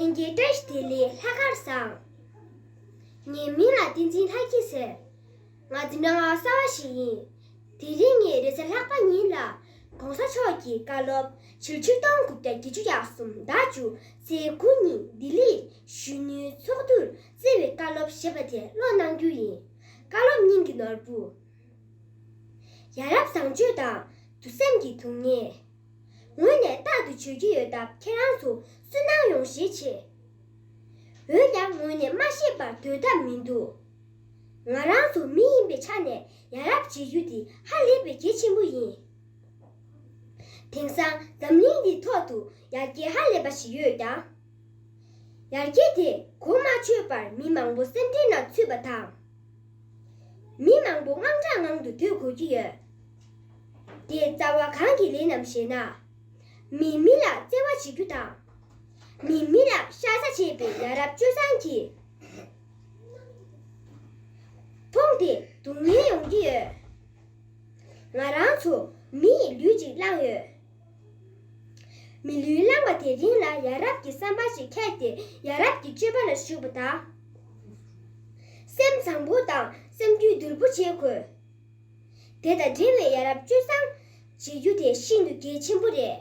དེང་གི་བཀྲ་ཤིས་བདེ་ལེགས་ལྷག་དཀར་བཟང། ངའི་མིང་ལ་བསྟན་འཛིན་ལྷ་སྐྱིད་ཟེར། ང་འཛིན་གྲྭ་ངག་གསར་བ་ཞིག་ཡིན། དེ་རིང་ངས་རེས་གཟའ་ལྷག་པ་ཉིན་ལ ྋགོང་ས་མཆོག་གི་བཀའ་སློབ་ཕྱི་ལོ་ཆིག་སྟོང་དགུ་བརྒྱ་བརྒྱད་ཅུ་ཡར་གསུམ་ཟླ་བཅུ་ཚེས་དགུ་ཉིན་ལྡི་ལིར་གཞོན་ནུའི་ཚོགས་འདུར་བརྩེ་བའི་བཀའ་སློབ་ཞེས་པ་དེ་ཀློག་གནང་རྒྱུ་ཡིན། བཀའ་སློབ་སྙིང་གི་ནོར་བུ། ཡ་རབས་བཟང་སྤྱོད་དང་དུ་སེམས་ཀྱི་དུང་ངེ། ངོས་ནས་རྟག་ཏུ་བྱོས་ཀྱི་ཡོད་སྟབས་ཁྱེད་རང་ཚོ་སུན་སྣང་ཡོང་ཤས་ཆེ། འོན་ཀྱང་ངོས་ནས་མ་ཤེས་པར་འདོད་ཐབས་མི་འདུག་ང་རང་ཚོ་མི་ཡིན་པའི་ཆ་ནས་ཡ་རབས་བྱེད་རྒྱུ་དེ་ཧ་ལས་པའི་གལ་ཆེན་པོ་ཡིན། དེང་སང་འཛམ་གླིང་འདིའི་ཐོག་ཏུ་ཡ་གྱལ་ཧ་ལས་པ་ཞིག་ཡོད་ཀྱང། ཡར་རྒྱས་དེས་གོ་མ་ཆོད་པར་མི་མང་པོ་སེམས་འཁྲེང་ན་ཚུད་པ་དང། མི་མང་པོ་དངངས་སྐྲག་ངང་དུ་སྡོད་དགོས་ཀྱི་ཡོད། དེའི་རྩ་བ་གང་གི་ལས་རྣམས་ཞེ་ན། མིས་མི་ལ་བརྩེ་བ་བྱེད་རྒྱུ་དང། མིས་མི་ལ་ཤ་ཚ་བྱས་པའི་ཡ་རབས་སྤྱོད་བཟང་གིས་མཐོང་སྟེ་སྡུག་བསྔལ་ཡོང་གི་ཡོད། ང་རང་ཚོ་མི་ཡི་ལུས་གཅིག་བླངས་ཡོད། མི་ལུས་བླངས་པ་དེ་རིང་ལ་ཡ་རབས་ཀྱི་བསམ་པ་ཞིག་ཁྱེར་ཏེ་ཡ་རབས་ཀྱི་སྤྱོད་པ་ལ་ཞུགས་པ་དང། སེམས་བཟང་པོ་དང་སེམས་རྒྱུད་དུལ་པོ་བྱེད་དགོས། དེ་དང་འབྲེལ་བའི་ཡ་རབས་སྤྱོད་བཟང་བྱེད་རྒྱུ་དེ་ཤིན་ཏུ་གལ་ཆེན་པོ་རེད།